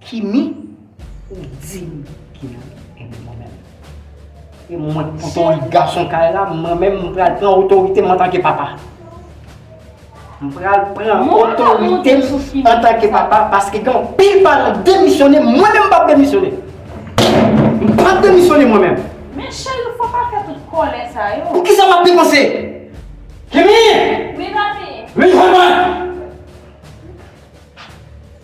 Kimi ou dim ki nan enmi mwen menm. E mwen ki poto lit gason kay la mwen menm m pral pran otorite m antanke papa. M pral pran otorite m antanke papa paske gen anpil paran k demisyone mwen menm m pap demisyone. M pap demisyone mwen menm. Men cheri fò pa fè tout kòlè sa yo. Poukisa wap depanse? Kimi! Wi papi! Vin jwenn mwen!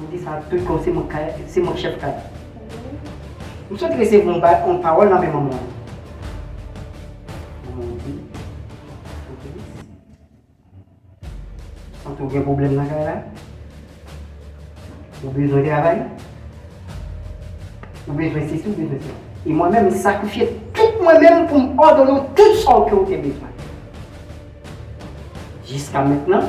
M di sa tout kon se mwen kay se mwen chèf kay la. M sot resevwa yon ba yon pawòl nan men manman an. Manman an di, Obelis, m santi w gen pwoblèm nan kay la. Ou bezwen travay. Ou bezwen sesi ou bezwen sela. E mwen menm m sakrifye tout mwen menm pou m òdone w tout sa w ke ou te bezwen. Jiska mentnan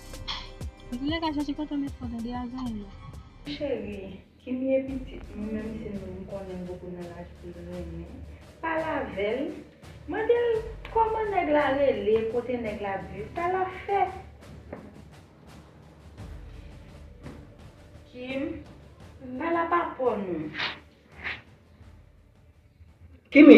Antoulèka chache kontan met fò tande a zanmi m. Cheri kimie pitit mwen menm si nou m konnen gougo nan laj pou l renmen pa l avèl mande l kòman nèg la rele kote nèg la ap viv sa lap fè kim pa la pa pò nou. Kimi.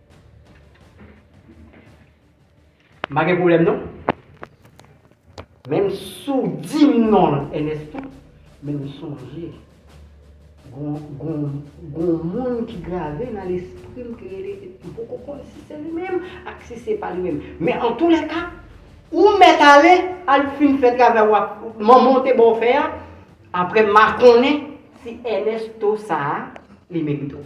M pa gen pwoblèm non. Menm si w di m non l Ernesto, men m sonje gen yon moun ki grave nan lespri m ki rele, m poko konn si se li menm ak si se pa li menm. Men antoulèka, ou mèt ale, al fin fè travay w ap, manman w te ba w fè a, apre m a konnen si Ernesto sa a, li merite w.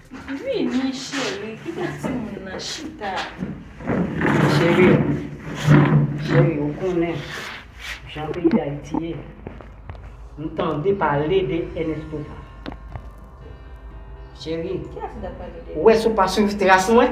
Vini cheri kite timoun nan chita. Cheri cheri ou konnen jan peyi dayiti ye nou tande pale de Ernesto sa cheri ou wè si ou pa swiv tras mwen.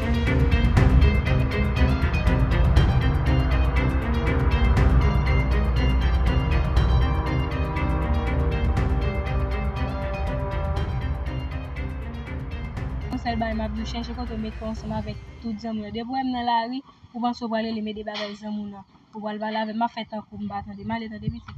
Yon sèl bagay map diw chèche kote ou met kòw ansanm avèk tout zanmiw yo depi ou wèm nan lari ou panse ou pral relem ede bagay zanmiw nan ou pral pale avèm map fè tankou m pa tande m ale tande pitit.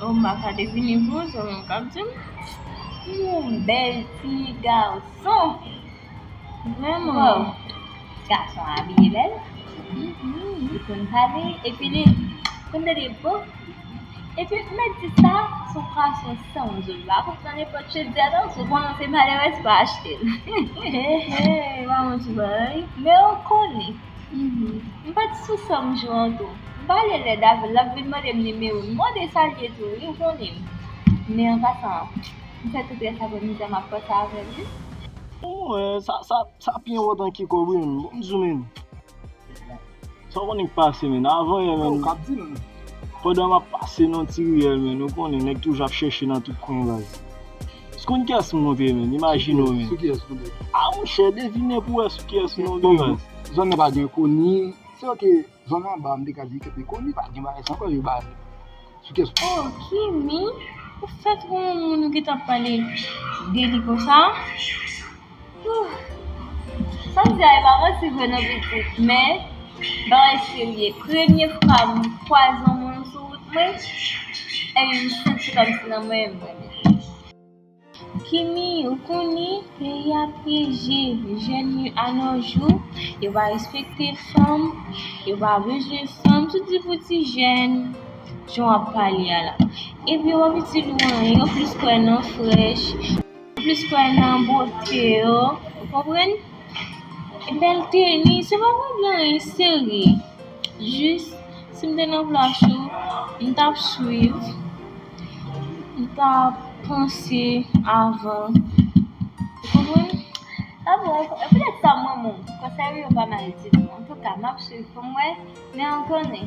Ou ma ka devine vre se ou menm kap dim. Ou bel ti garçon. Vreman. Wow. Garçon abiye bel. Li konn pale epi li konn de depo. Epi mwen di sa sou fason san ou zo la pou nan nepot chez di adan sou kon se male wes pa achte. He he, waman ti bay. Men ou konnen. M pat sou sa m jwe an tou. M pale lèd avèl lap vin mandem nimewo l m mande sa l ye tou wi ou konnen m men an pasan m fè tout rès apremidi a map panse avèl wi. Pou mwen sa pi enpòtan ki kòb wi menn bon bzou menn sa w konnen k pase menn avan yè menn pandan map pase nan ti riyèl menn ou konnen nèg toujou ap chèche nan tout kwen baz. Scoun kiyès m montre menm imajine w menm. Sou kiyès nou menm. Ah monchè devine pou wè sou kiyès nou menm raz. Zòn nan pa gen koni. Se ok zòn anba m te ka di kèt koni pa gen bagay sa ankò yo ba nou. Sou kiyès nou menm. Oh kimi ou fèt wè yon moun ou gentan pale deli konsa. Sanm di a e pa manti vre nan pitit men bagay serye premye fwa m kwaze yon moun sou wout mwen ebyen m santi kòmsi nan mwen menm mwen menm. Kimi ou koni peyi a pyeje jèn yo a no jou yo pa respekte fanm yo pa bezwen fanm tout di pou ti jèn jan wap pale a la epi wap itil ou anyen yo plis kwè nan frèch. Mwen plis kwè nan bote yo ou konprann e bèl teni se pa pou gen anyen serye jis si m te nan plas ou m t ap swiv m t ap panse avan ou konprann. Sa bon e poutèt sa m renmen w konsèy ou yo pa mal ditou antouka m ap swiv pou m wè men an konnen.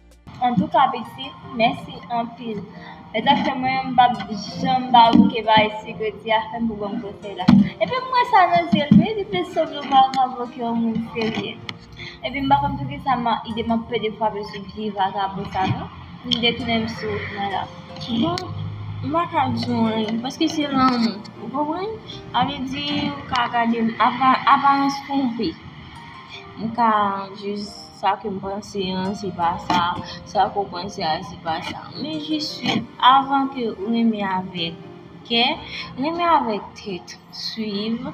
Antouka pitit mèsi anpil. Mwen ta fè mwen m pap janm ba bouke ba ayiti jodi a fèm pou bon konsèy la epi m wè sa nan zyel wi li te sòt lou pa ka voke yon moun serye epi m pa konn poukisa ma ide m ap pede fwape sou vye vakabon sa non m detounen m sou wout mwen la. Bon m pa ka di w anyen paske se lanmou ou konprann sa vle di ou ka gade m apa aparans twonpe m ka jis. Sa ke m panse an se pa sa, sa ke w panse a se pa sa. Men jis fi avan ke ou renmen avèk kè, renmen avèk tèt, swiv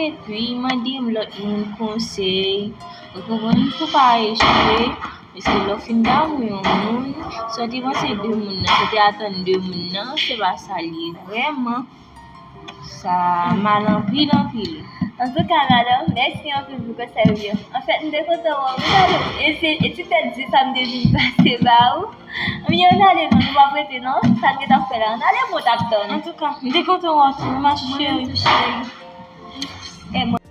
epi mande m lòt moun konsèy. Ou konprann? Pou pa echwe. Paske lè w fin damou yon moun, sa w te panse de moun nan, sa w te atann de moun nan, se pa sa li ye vrèman. Sa mal anpil anpil. Antouka madanm, mèsi anpil pou konsèy ou yo. Anfèt m te kontan wè w, m tande w e se e ti tèt di sa m te vin pase ba ou. Anmyè ann ale non, nou pap rete non, sa n gentan fè la, ann ale m ou tap tann. Antouka, m te kontan wè w tou ma cheri. Mwen menm tou cheri.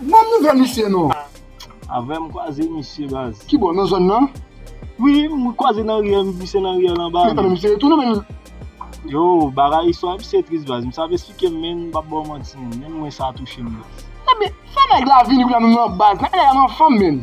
Banm nouvel misye non. Avè m kwaze misye baz. Ki bò nan zòn nan? Wi m kwaze nan riyèl m glise nan riyèl anba a menn. Misye retounen menn. Yo bagay istwa misye tris baz misye ap esplike m menn m pap baw manti menn menm mwen sa touche m baz. Ebyen fè nèg la vini kounye a nou nan baz nan elè a nan fanm menn.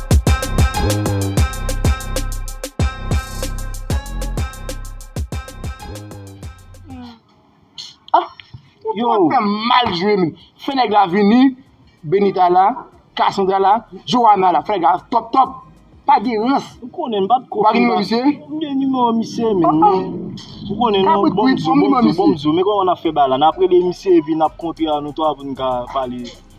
Yo fè mal jwe menm. Fè nèg la vini, Benita la, Cassandra la, Johanna la. Fè nèg la top top. Pa gen rans. Ou konnen m pa tko konn ba. Ou pa gen nimewo misye? M gen nimewo misye men. Apa. Ou konnen non. Kabrit kwit, banm nimewo misye. Bon m di w, bon m di w. Men kòman n ap fè bagay la. N ap rele misye epi n ap kontre a nou 3 pou n ka pale.